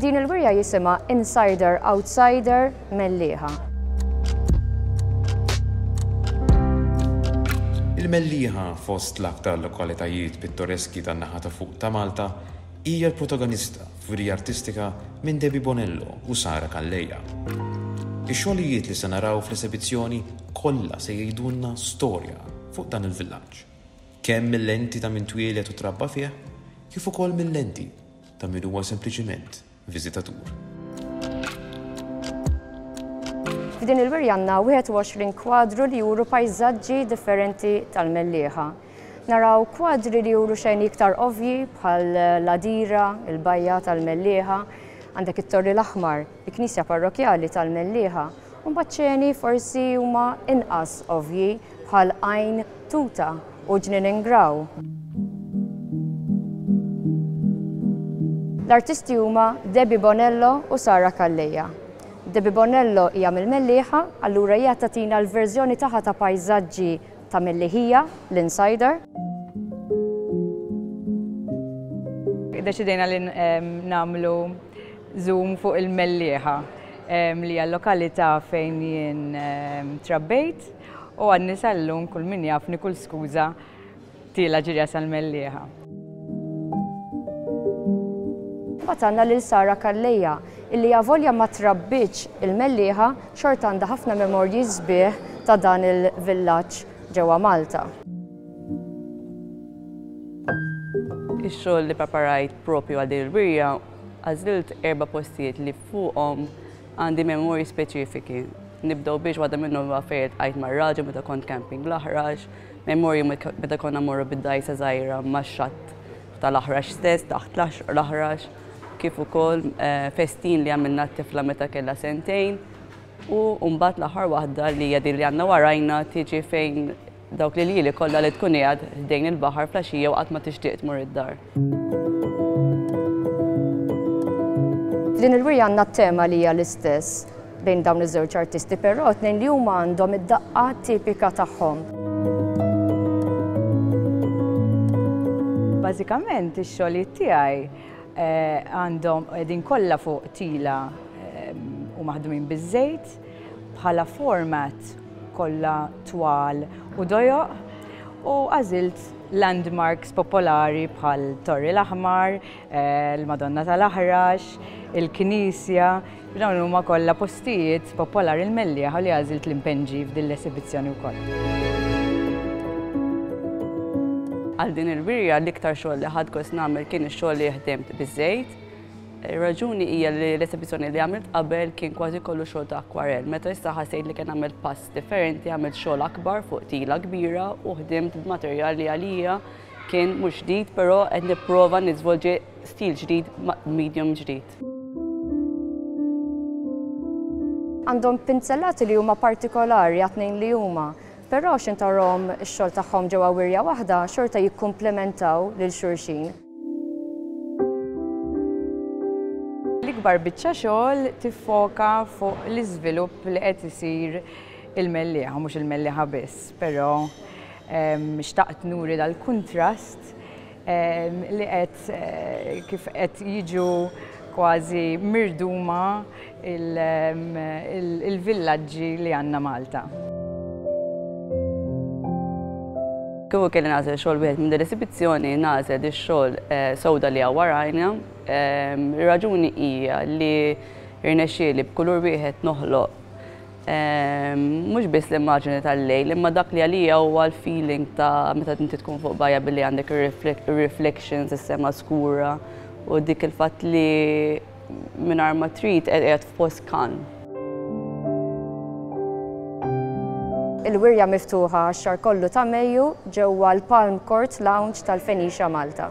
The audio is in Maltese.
Din il-wirja jisima Insider Outsider Melliħa. Il-Melliħa fost l-aktar lokalitajiet pittoreski tan-naħa ta' fuq ta' Malta hija l-protagonista Tfirija artistika minn Debbie Bonello u Sara Calleja. Ix-xogħlijiet li se naraw fl-esebizzjoni kollha se jgħidulna storja fuq dan il-villaġġ, kemm mil-lenti ta' min twieled u trabba fih, kif ukoll mil-lenti ta' min huwa sempliċiment viżitatur. F'din il-wirja għandna 21 kwadru li juru pajżaġġi differenti tal-Mellieħa. Naraw kwadri li juru xejn iktar ovvji bħal l-għadira, il-bajja tal-Mellieħa, għandek it-Torri l-Aħmar, il-Knisja Parrokjali tal-Mellieħa, u mbagħad ċeni forsi huma inqas ovvji bħal Għajn Tuta u Ġnien Ingraw. L-artisti huma Debbie Bonello u Sara Calleja. Debbie Bonello hija mill-Mellieħa, allura hija tatina l-verżjoni tagħha ta' pajżaġġi Ta' milli hija l-insider. Iddeċidejna li nagħmlu zoom fuq il-Mellieħa li hija l-lokalità fejn jien trabbejt u għadni sal-lum kull min jafni kull skuża tiela' ġirja sal-Mellieħa. Imbagħad għandna lil Sara Calleja, illi avolja ma trabbitx il-Mellieħa, xorta għandha ħafna memorji sbieħ ta' dan il-villaġġ ġewwa Malta. Ix-xogħol li preparajt proprju għal din il-wirja, għażilt erba' postijiet li fuqhom għandi memorji speċifiki. Nibdew biex waħda minnhom huwa fejn iltqajt mar-raġel meta kont camping l-Aħrax, Ma jmur jum meta konna mmorru bid-dgħajsa żgħira max-xatt tal-Aħrax stess, taħt l-Aħrax, kif ukoll eh, festin li għamilna t-tifla meta kellha sentejn. U mbagħad l-aħħar waħda li hija din li għandna warajna tiġi fejn dawk li li kollha li tkun qiegħed ħdejn il-baħar flaxija u qatt ma tixtieq tmur id-dar. F'din il-wirja għandna t-tema li hija l-istess bejn dawn iż-żewġ artisti, però tnejn li huma għandhom id-daqqa tipika tagħhom. Bażikament ix-xogħlijiet tiegħi eh, għandhom qegħdin kollha fuq tila eh, u maħdumin biż-żejt. Bħala format kollha twal u dojoq u għażilt landmarks popolari bħal Torri l-Aħmar, l-Madonna tal-Aħrax, il-Knisja, dawn huma kollha postijiet popolari l-mellieħa li għażilt li npenġi f'din l-esibizzjoni wkoll. Għal din il-wirja l-iktar xogħol li ħadt gost nagħmel kien ix-xogħol li ħdimt biż-żejt. Ir-raġuni hija li l-esibizzjoni li għamilt qabel kien kważi kollu xogħol ta' akwarell, meta issa ħassejt li kien għamilt pass differenti għamilt xogħol akbar fuq tila kbira u ħdimt b'materjal li għalija kien mhux ġdid però qed nipprova niżvolġi stil ġdid b'medium ġdid. Għandhom pinzellati li huma partikolari għat-tnejn li huma, però x'intarahom ix-xogħol tagħhom ġewwa wirja waħda xorta jikkumplementaw lil xulxin. L-ikbar biċċa xogħol tiffoka fuq l-iżvilupp li qed isir il-mellieħa, mhux il-mellieħa biss, però ehm, xtaqt nuri dal-kuntrast ehm, li qed eh, kif qed jiġu kważi mirduma il-villaġġi li għandna Malta. Kieku kelli nagħżel xogħol wieħed minn din l-esibizzjoni, nagħżel ix-xogħol sewda li hawn warajna. Ir-raġuni hija li rnexxieli b'kulur wieħed noħloq mhux biss l-immaġini tal-lejl, imma dak li għalija huwa l-feeling ta' meta inti tkun fuq bajja billi għandek ir-reflections, is-sema skura u dik il-fatt li mingħajr ma trid qed qiegħed f'post kalm. Il-wirja miftuħa għax-xahar kollu ta' Mejju ġewwa l-Palm Court Lounge tal-Fenicia Malta.